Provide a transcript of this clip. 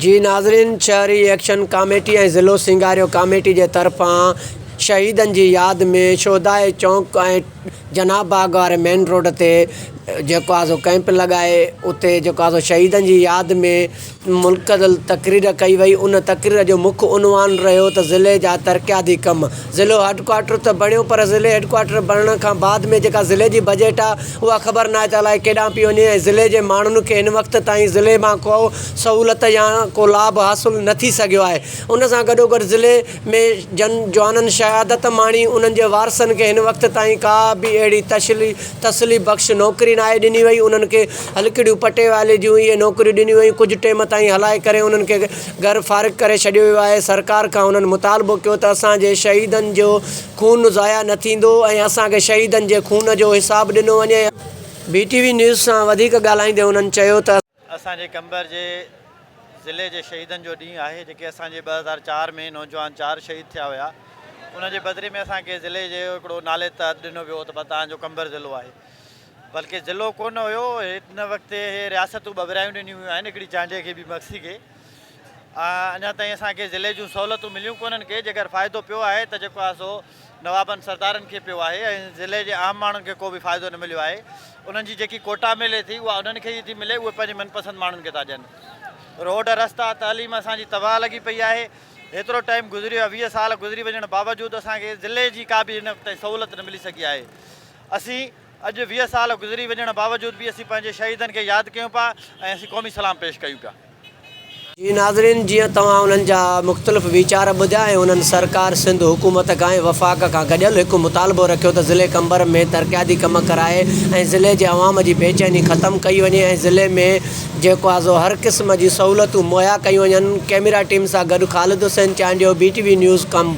جي ناظرين شهري ايڪشن ڪاميٽي ۽ ضلعو سينگاريو ڪاميٽي جي طرفان شهيدن جي ياد ۾ شهداء چونڪ ۽ جناح باغ واري مين روڊ تي جيڪو آهي سو ڪئمپ لڳائي اتي جيڪو آهي سو شهيدن جي ياد ۾ منعقد تقرير ڪئي وئي ان تقرير جو مک عنوان رهيو ته ضلعي جا ترقياتي ڪم ضلعو هيڊڪوارٽر ته بڻيو پر ضلعي هيڊڪوارٽر بڻڻ کان بعد ۾ جيڪا ضلعي جي بجيٽ آهي اها خبر ناهي ته الائي ڪيڏانهن پئي وڃي ۽ ضلعي جي ماڻهن کي هن وقت تائين ضلعي مان ڪو سهولت يا ڪو لاڀ حاصل نه ٿي سگهيو آهي ان سان گڏوگڏ ضلعي ۾ جن جوانن شهادت ماڻي انهن جي وارثن کي هن وقت تائين ڪا به اهڙي تسلي بخش نوڪري ناهي ڏني وئي انهن کي هلڪڙيون پٽيوالي جون اهي نوڪريون ڏنيون ويون ڪجهه ٽيم تائين هلائي ڪري انهن کي گهر فارغ ڪري ڇڏيو ويو آهي سرڪار کان انهن مطالبو ڪيو ته اسان جي شهيدن جو خون ضايع نه ٿيندو ۽ اسان کي شهيدن جي خون جو حساب ڏنو وڃي ۽ بي ٽي وي نيوز سان وڌيڪ ڳالهائيندي انهن چيو ته. اسان جي قمبر جي ضلعي جي شهيدن جو ڏينهن آهي جيڪي اسان جي ٻه هزار چار ۾ نوجوان چار شهيد ٿيا هيا ان جي بدلي ۾ اسان کي ضلعي جي هڪڙو نالي تحت ڏنو ويو ته توهان جو قمبر ضلعو آهي بلڪه ضلعو ڪونه هيو هن وقت هي رياستون ٻڀرايون ڏنيون ويون آهن هڪڙي چانڊيي کي ٻي مگسي کي اڃا تائين اسان کي ضلعي جون سهولتون مليون ڪونهن ڪي جيڪر فائدو پيو آهي ته جيڪو آهي سو نوابن سردارن کي پيو آهي ۽ ضلعي جي عام ماڻهن کي ڪو به فائدو نه مليو آهي انهن جي جيڪي ڪوٽا ملي ٿي اها انهن کي ئي ٿي ملي اهي پنهنجي من پسند ماڻهن کي ٿا ڏين روڊ رستا تعليم اسان جي تباهه لڳي پئي آهي هيترو ٽائيم گذريو آهي ويهه سال گذري وڃڻ باوجود اسان کي ضلعي جي ڪا به هن وقت تائين سهولت نه ملي سگهي آهي اسين اڄ ويهه سال گذري وڃڻ باوجود به اسين پنهنجي شهيدن کي ياد ڪيون پيا ۽ اسين قومي سلام پيش ڪيون پيا. جي ناظرين جيئن توهان انهن جا مختلف ويچار ٻڌيا ۽ انهن سرڪار سنڌ حڪومت کان ۽ وفاق کان گڏيل هڪ مطالبو رکيو ته ضلعي قمبر ۾ ترقياتي ڪم ڪرائي ۽ ضلعي جي عوام جي بي چيني ختم ڪئي وڃي ۽ ضلعي ۾ جيڪو آهي سو هر قسم جي سهولتون مهيا ڪيون وڃن ڪيميرا ٽيم سان گڏ Khalid Hussain Chandio B T V news Qambar.